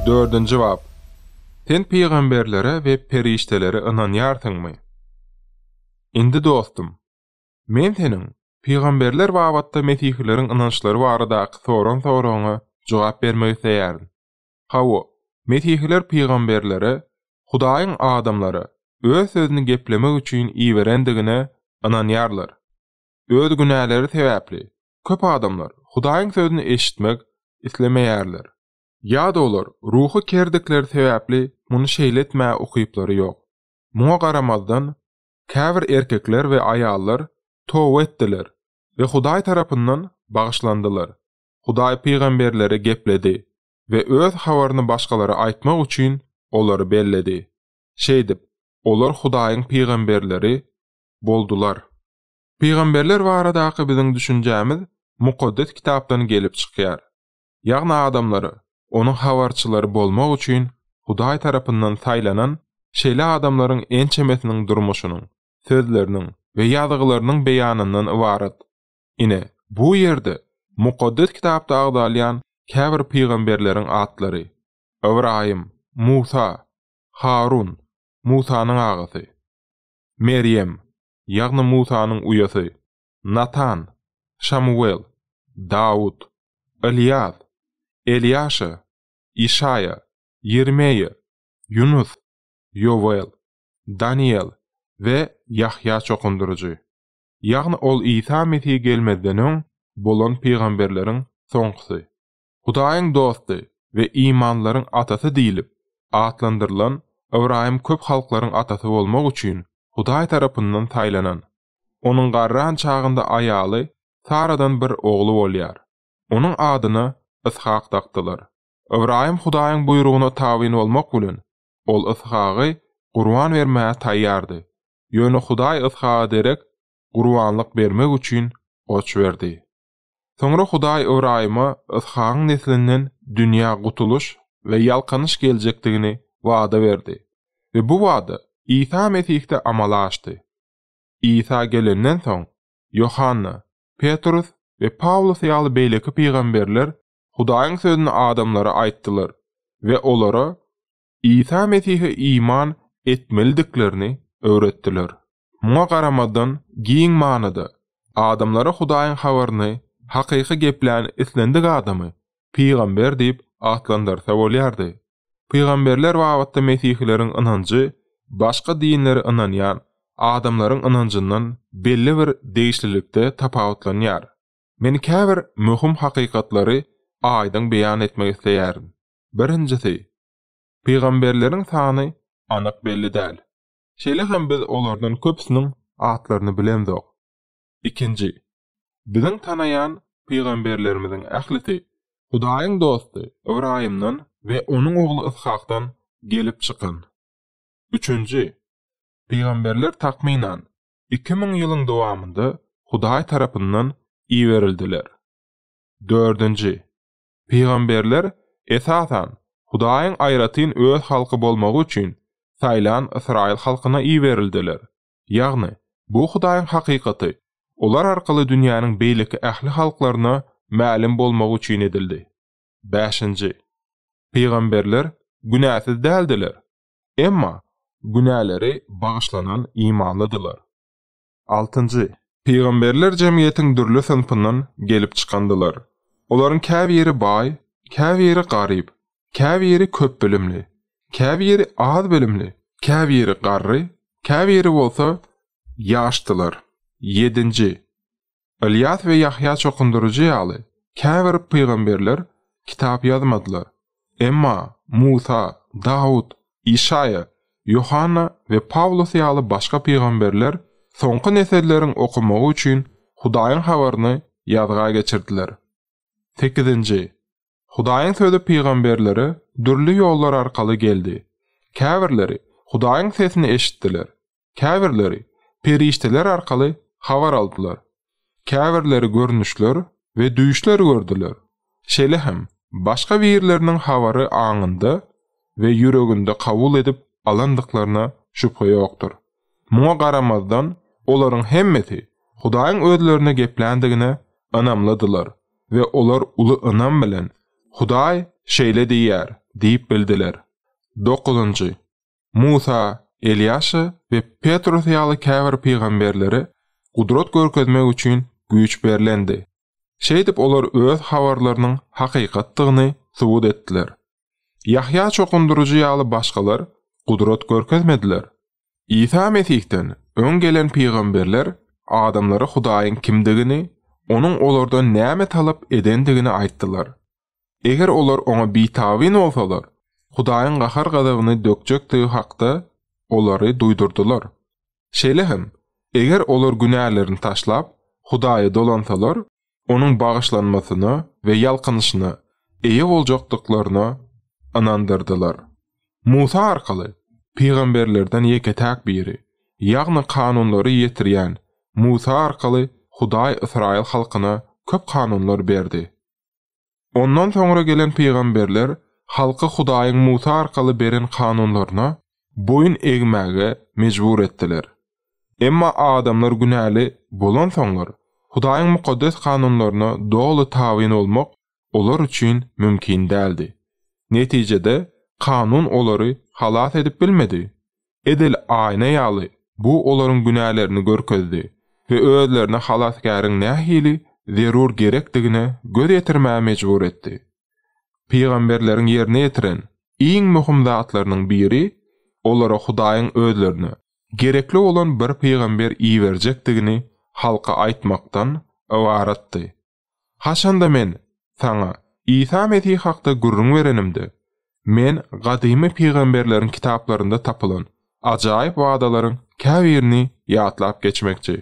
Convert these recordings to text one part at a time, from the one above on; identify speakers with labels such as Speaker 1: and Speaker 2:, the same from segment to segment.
Speaker 1: Dördünji bap. Sen pygamberlere we perişdelere ynanýarsyňmy? Indi dostum, men seniň pygamberler babatda mesihileriň ynançlary baradaky soran soragyňa jogap bermek isleýärin. Hawa, mesihiler pygamberlere Hudaýyň adamlara Öz sözüni geplemek üçin iberendigine ynanýarlar. Öz günäleri sebäpli Köp adamlar Hudaýyň sözüni eşitmek islemeýärler. Ýa-da olar ruhy kerdikleri sebäpli muny şeýle etmäge ukyplary ýok. Muňa garamazdan, käbir erkekler we aýallar toba etdiler we Hudaý tarapyndan bagyşlandylar. Hudaý pygamberleri gepledi we Öz habaryny başgalara aýtmak üçin olary belledi. Şeýdip, olar Hudaýyň pygamberleri boldular. Pygamberler baradaky biziň düşünjämiz Mukaddes Kitapdan gelip çykýar. Ýagny adamlary, onuň habarçylary bolmak üçin Hudaý tarapyndan saýlanan şeýle adamlaryň ençemesiniň durmuşynyň, sözleriniň we ýazgylarynyň beýanyndan ybarat. Ine, bu ýerde Mukaddes Kitapda agzalýan käbir pygamberleriň atlary, Ybraýym, Musa, Harun, Musanyň agasy, Merýem, ýagny Musanyň uýasy, Natan, Şamuwel, Dawut, Ylýas, Elýaşa, Işaýa, Ýermeýa, Ýunus, Ýowel, Danyýel we Ýahýa çokundyryjy, ýagny ol Isa Mesih gelmezden öň bolan pygamberleriň soňkusy. Hudaýyň dosty we imanlaryň atasy diýlip atlandyrylan Ybraýym köp halklaryň atasy bolmak üçin Hudaý tarapyndan saýlanan. Onuň garran çagynda aýaly Saradan bir ogly bolýar. Onuň adyna Yshak dakdylar. Ybraýym Hudaýyň buýrugyna tabyn bolmak bilen, ol Yshagy gurban bermäge taýýardy. Ýöne Hudaý Yshaga derek gurbanlyk bermek üçin goç berdi. Soňra Hudaý Ybraýyma Yshagyň neslinden dünýä gutulyş we ýalkanyş geljekdigini wada berdi we bu wada Isa Mesihde amala aşdy. Isa gelenden soň, Ýohanna, Petrus we Pawlus ýaly beýleki pygamberler Hudaýyň sözüni adamlara aýtdylar we olara Isa Mesihe iman etmelidiklerini öwretdiler. Muňa garamazdan, giň manyda, adamlara Hudaýyň habaryny hakyky geplän islendik adamy pygamber diýip atlandyrsa bolýardy. Pygamberler babatda mesihileriň ynanjy başga dinlere ynanýan adamlaryň ynanjyndan belli bir degişlilikde tapawutlanýar. Men käbir möhüm hakykatlary aýdyň beýan etmek isleýärin. Birinjisi, pygamberleriň sany anyk belli däl. Şeýle hem biz olardan köpüsiniň atlaryny bilemzok. Ikinji, biziň tanaýan pygamberlerimiziň ählisi Hudaýyň dosty Ybraýymdan we onuň ogly Yshakdan gelip çykan. Üçünji, pygamberler takmynan iki müň ýylyň dowamynda Hudaý tarapyndan iberildiler. Dördünji, Pygamberler, esasan, Hudaýyň aýratyn Öz halky bolmagy üçin saýlan ysraýyl halkyna iberildiler. Ýagny, bu Hudaýyň hakykaty olar arkaly dünýäniň beýleki ähli halklaryna mälim bolmagy üçin edildi. Bäşinji. Pygamberler günäsiz däldiler. Emma günäleri bagyşlanan imanlydylar. Altynjy, Pygamberler jemgyýetiň dürli synpyndan gelip çykandylar. Olaryň käbiri baý, käbiri garyp, käbiri köp bilimli, käbiri az bilimli, käbiri garry, käbiri bolsa ýaşdylar. Ýedinji, Ylýas we Ýahýa çokundyryjy ýaly, käbir pygamberler kitap ýazmadylar. Emma Musa, Dawut, Işaýa, Ýohanna we Pawlus ýaly başga pygamberler soňky nesilleriň okamagy üçin Hudaýyň habaryny ýazga geçirdiler. Sekizinji. Hudaýyň sözi pygamberlere dürli ýollar arkaly geldi. Käbirleri Hudaýyň sesini eşitdiler, Käbirleri perişdeler arkaly habar aldylar. Käbirleri görnüşler we düýşler gördüler. Şeýle hem başga birleriniň habary aňynda we ýüreginde kabul edip alandyklaryna şübhe ýokdur. Muňa garamazdan, olaryň hemmesi Hudaýyň özlerine gepländigine ynamlydylar we olar uly ynam bilen, Hudaý şeýle diýýär diýip bildiler. Dokuzynjy. Musa, Elýaşa we Petrus ýaly käbir pygamberlere gudrat görkezmek üçin güýç berlendi. Şeýdip, olar öz habarlarynyň hakykatdygyny subut etdiler. Ýahýa Çokundyryjy ýaly başgalar gudrat görkezmediler. Isa Mesihden öň gelen pygamberler adamlara Hudaýyň kimdigini, Onuň olardan näme talap edendigini aýtdylar. Eger olar oňa bitabyn bolsalar, Hudaýyň gahar-gazabyny dökjekdigi hakda olary duýdurdylar. Şeýle hem, eger olar günälerini taşlap, Hudaýa dolansalar, Onuň bagyşlanmasyna we ýalkanyşyna eýe boljakdyklaryna ynandyrdylar. Musa arkaly, pygamberlerden ýeke-täk biri, ýagny kanunlary ýetirýän Musa arkaly Hudaý ysraýyl halkyna köp kanunlar berdi. Ondan soňra gelen pygamberler halky Hudaýyň Musa arkaly beren kanunlaryna boýun egmäge mejbur etdiler. Emma adamlar günäli bolansoňlar, Hudaýyň mukaddes kanunlaryna doly tabyn bolmak olar üçin mümkin däldi. Netijede, kanun olary halas edip bilmedi. Edil aýna ýaly, bu olaryň günälerini görkezdi we özlerine Halasgäriň nähili zerur gerekdigine göz ýetirmäge mejbur etdi. Pygamberleriň ýerine ýetiren iň möhüm zatlarynyň biri olara Hudaýyň özlerine gerekli bolan bir pygamber iberjekdigini halka aýtmakdan ybaratdy. Haçanda men saňa Isa Mesih hakda gürrüň berenimde, men gadymy pygamberleriň kitaplarynda tapylan ajaýyp wadalaryň käbirini ýatlap geçmekçi.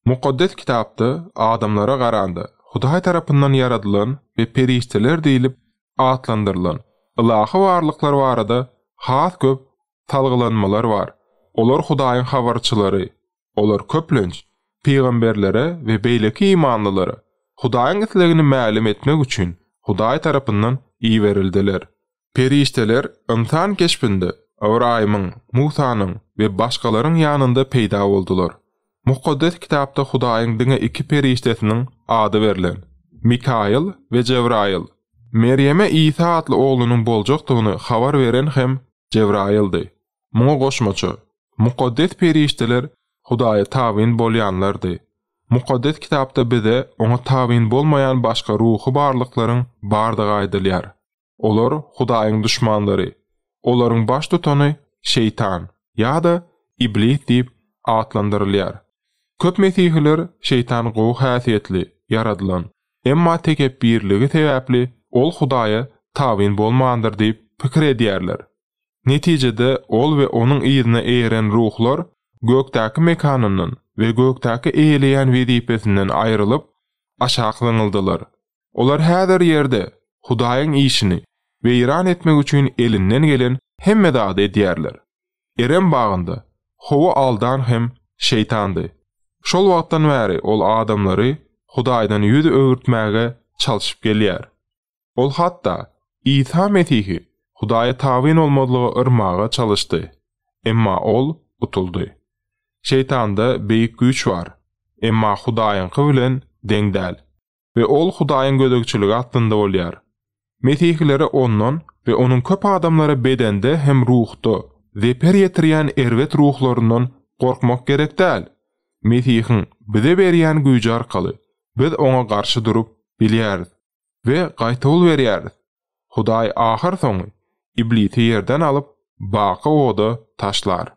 Speaker 1: Mukaddes Kitapda adamlara garanda Hudaý tarapyndan ýaradylan we perişdeler diýlip atlandyrylan ylahy barlyklar barada has köp salgylanmalar bar, olar Hudaýyň habarçylary, Olar köplenç, pygamberlere we beýleki imanlylara Hudaýyň islegini mälim etmek üçin Hudaý tarapyndan iberildiler. Perişdeler ynsan keşbinde Ybraýymyň, Musanyň we başgalaryň ýanynda peýda boldular. Mukaddes Kitapda Hudaýyň diňe iki perişdesiniň ady berlen, Mikaýyl we Jebraýyl. Merýeme Isa atly oglunyň boljakdygyny habar beren hem Jebraýyldy. Muňa goşmaça, mukaddes perişdeler Hudaýa tabyn bolýanlardy. Mukaddes Kitapda bize Oňa tabyn bolmaýan başga ruhy barlyklaryň bardygy aýdylýar. Olar Hudaýyň duşmanlary. Olaryň baştutany Şeýtan ýa-da Iblis diýip atlandyrylýar. Köp Mesihiler Şeýtan gowy häsiýetli, ýaradylan, emma tekepbirligi sebäpli ol Hudaýa tabyn bolmandyr diýip pikir edýärler. Netijede, ol we onuň yzyna eýeren ruhlar gökdäki mekanyndan we gökdäki eýeleýän wezipesinden aýrylyp, aşak zyňyldylar. Olar häzir ýerde Hudaýyň işini weýran etmek üçin elinden gelen hemme zady edýärler. Erem bagynda Howa aldan hem Şeýtandy. Şol wagtdan bäri ol adamlary Hudaýdan ýüz öwürtmäge çalşyp gelýär. Ol hatda Isa Mesihi Hudaýa tabyn bolmazlyga yrmaga çalyşdy, emma ol utuldy. Şeýtanda beýik güýç bar, emma Hudaýyňky bilen deň däl we ol Hudaýyň gözegçiligi astynda bolýar. Mesihilere ondan we onuň köp adamlara bedende hem ruhda zeper ýetirýän erbet ruhlaryndan gorkmak gerek däl. Mesihiň bize berýän güýji arkaly biz oňa garşy durup bilýäris. we gaýtawul berýäris. Hudaý ahyrsoňy Iblisi ýerden alyp, baky oda taşlar.